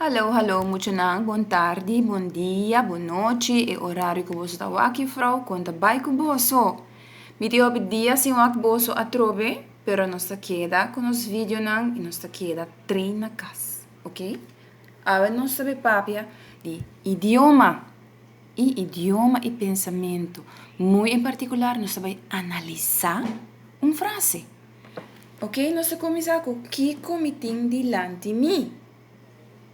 Hallo hallo muchanan bon tardi, bon dia, bon nochi e orario cu boso ta wak juffrouw con ta bay cu boso? Mi tin hopi dia sin wak boso atrobe pero nos ta keda con nos videonan y nos ta keda train na cas ok awe nos ta bay papia di idioma y idioma y pensamento muy en particular nos ta bay analisa un frase ok nos ta cuminsa cu kico mi tin dilanti mi.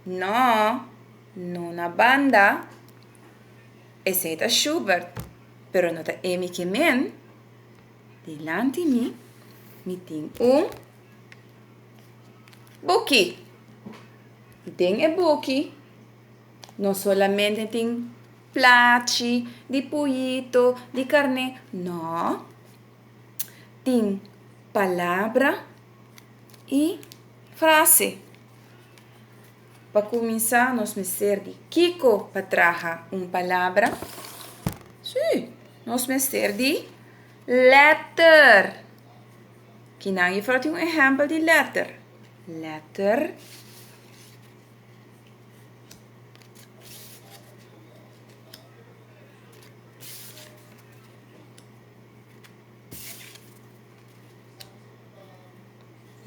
No, no na banda. Esei ta Schubert, pero no ta Amy Kemen. Dilanti mi, mi tin un buki. I den e buki no solamente tin plachi di poyito, di karné, no. tin palabra y frase. Pa kuminsá nos mester di kiko pa traha un palabra? Sí, nos mester di lèter. Kinan i fló tin un ehèmpel di lèter? Lèter.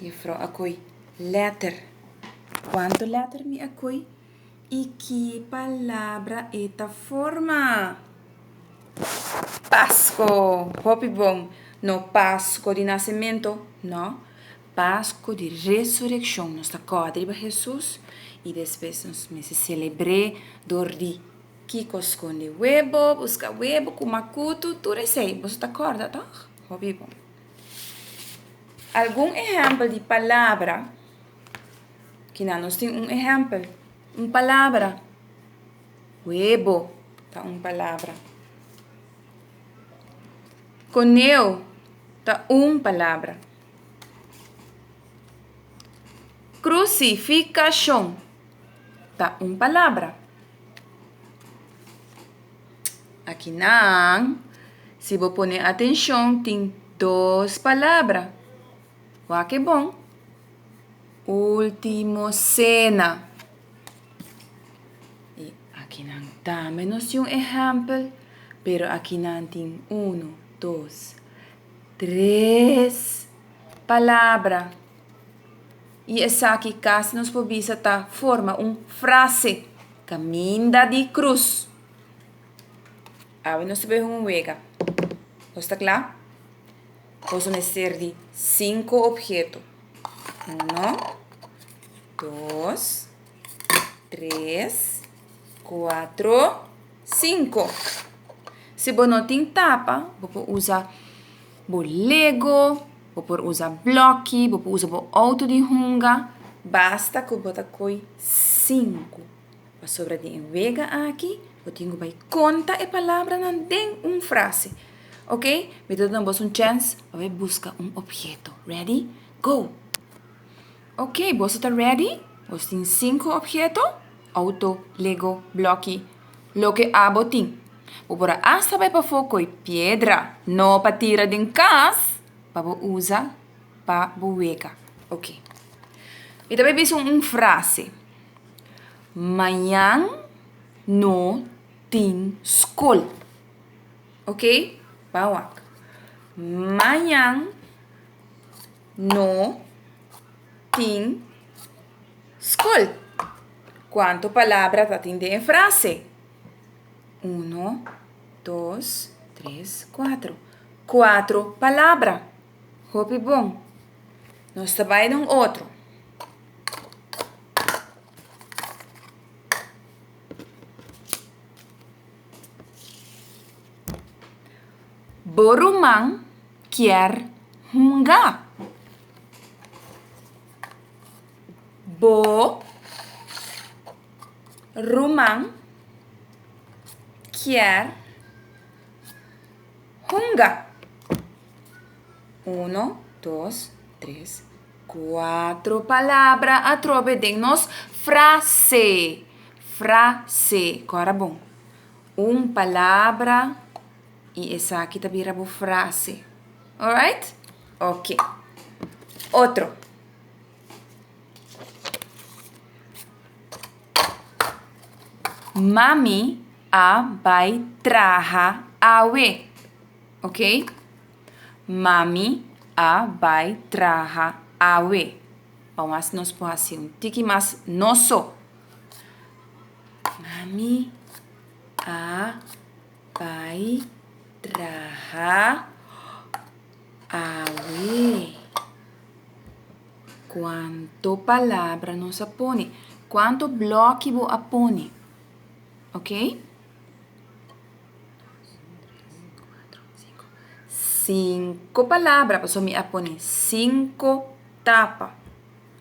Jefro a koy letter. Kuantu letter mi a koy i ki palabra e ta forma? Pasko! Hopi bon. No Pasko di nasementu, no. Pasko di resurekshon. Nos ta kòrda riba Hesus i despues nos mester selebr'é dor di. Kiko skonde webo, buska webo ku makutu, tur esei boso ta kòrda tòg? Hopi bon. Algun ehèmpel di palabra, kina nos tin un ehèmpel, un palabra, webo ta un palabra, koneu ta un palabra, krusifikashon. ta un palabra. Akinan, si bo pone atenshon, tin dos palabra. Wak e bon. Último cena. I akinan tambe nos tin un ehèmpel, pero akinan tin uno, dos, tres palabra. I esaki casi nos por bisa ta forma un frase, Caminda di cruz. Awe nos ta behe un wega. Nos ta cla? Nos mester di cinco obheto. Uno, dos. Tres, kuatro, sinku. Si bo no tin tapa, bo por usa bo lego, bo por usa blòkkie, bo por usa bo outo di hunga, basta ku bo ta koi sinku. Pasobra den e wega aki bo tin ku bai konta e palabranan den un frase. Ok, mi ta duna boso un chèns pa bai buska un obheto. Ready, go! Ok, boso ta ready? Boso tin sinku obheto, outo, lego, bloki, loke abo tin. Bo por a asta bai pafó koi piedra, no pa tira den kas, pa bo usa pa bo wega. Ok. Mi ta bai bisa un un frase. Mañan no tin skol. Ok, bawak. Mañan. No tin skol. Kuantu palabra ta tin den e frase? Uno, dos, tres, kuatro. Kuatro palabra. Hopi bon. Nos ta bai na un otro. Bo ruman. kier hunga. Bo ruman kier hunga. Uno, dos, tres, kuatro palabra atrobe den nos frase. Frase. Kòrda bon. Un palabra. Y esaki ta bira bo frase. Alright? Ok. Otro. Mami a bai traha awe. Ok? Mami a bai traha awe. Vamos a hacer nos por hacer un tiki más noso. Mami a Bai traha awe. Cuanto palabra nos a pone? Cuanto bloki bo a pone? Ok? Cinco palabra, paso mi a pone cinco tapa.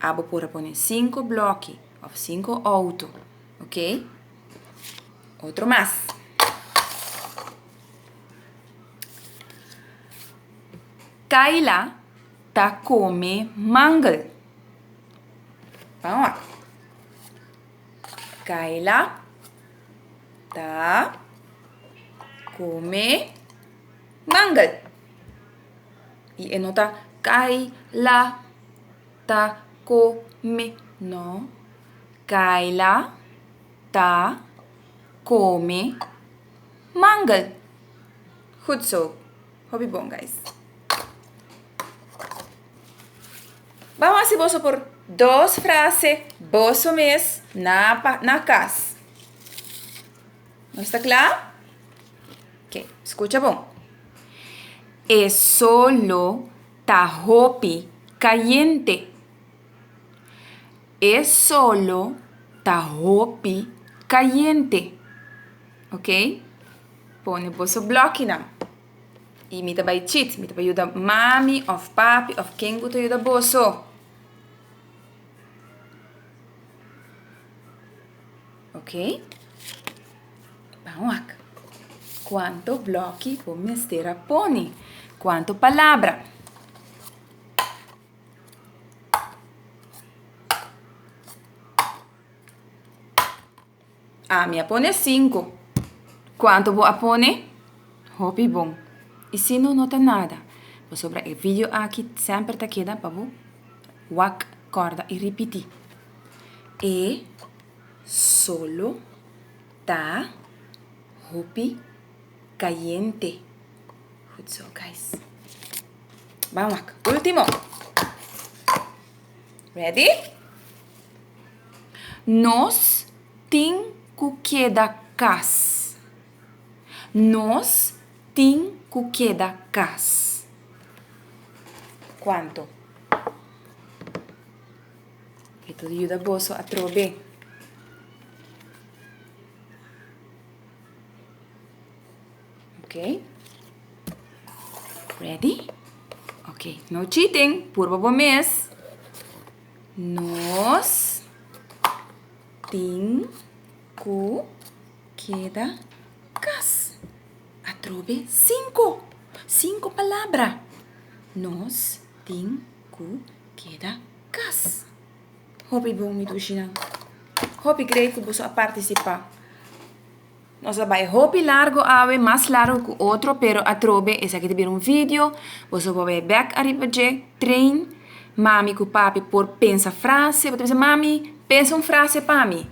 Abo por a pone cinco bloki of cinco auto. Ok? Otro mas. Kayla ta come mangel. Vamos. Kayla ta come mangel. Y e no ta Kayla ta come. No. Kayla ta kome mangel. Goed zo. Hopi bon guys. Bam hasi boso por dos frase boso mes na na kas. Nos ta kla? Ok, skucha bon. E solo ta hopi kayente. E solo ta hopi cayente. Ok? Pone boso blokinan. Y mi ta bay chit. Mi ta bay yuda mami of papi of ken cu ta yuda boso. Ok? Pan wak. Cuanto bloki bo mester a pone? Cuanto palabra? Ah, mi a pone cinco. ¿Cuánto vos a pone? Hopi bon. Y si no, no ta nada. Por sobra el video aquí siempre ta queda para vos. Wak, corda y repiti. E solo ta hopi cayente. Goed zo, guys. Ban wak. Último. Ready? Nos tin ku keda kas. Nos tin ku keda kas. Kuantu? E ta yuda boso atrobe. Ok. Ready? Ok, no cheating. Purba bo mes. Nos tin cu keda cas. Atrobe cinco. Cinco palabra. Nos tin cu keda cas. Hopi bon mi dushinan. Hopi grei cu boso a participa. Nos a bai hopi largo awe, mas largo ku otro, pero atrobe esaki ta bira un video, boso por bai e bèk ariba dje, train mami ku papi por pensa frase, bo ta bisa mami pensa un frase pa mi,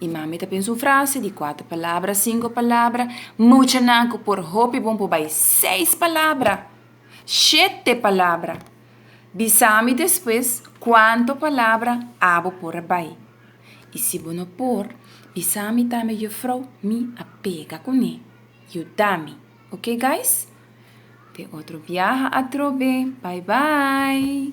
i mami ta pensa un frase di kuater palabra, sinku palabra, muchanan ku por hopi bon por bai seis palabra, shete palabra, bisami despues kuantu palabra abo por a bai. I si bo no por bisa mi tambe jufrou mi a pega kuné. Yudami, ok guys? Te otro biaha atrobe, bye bye!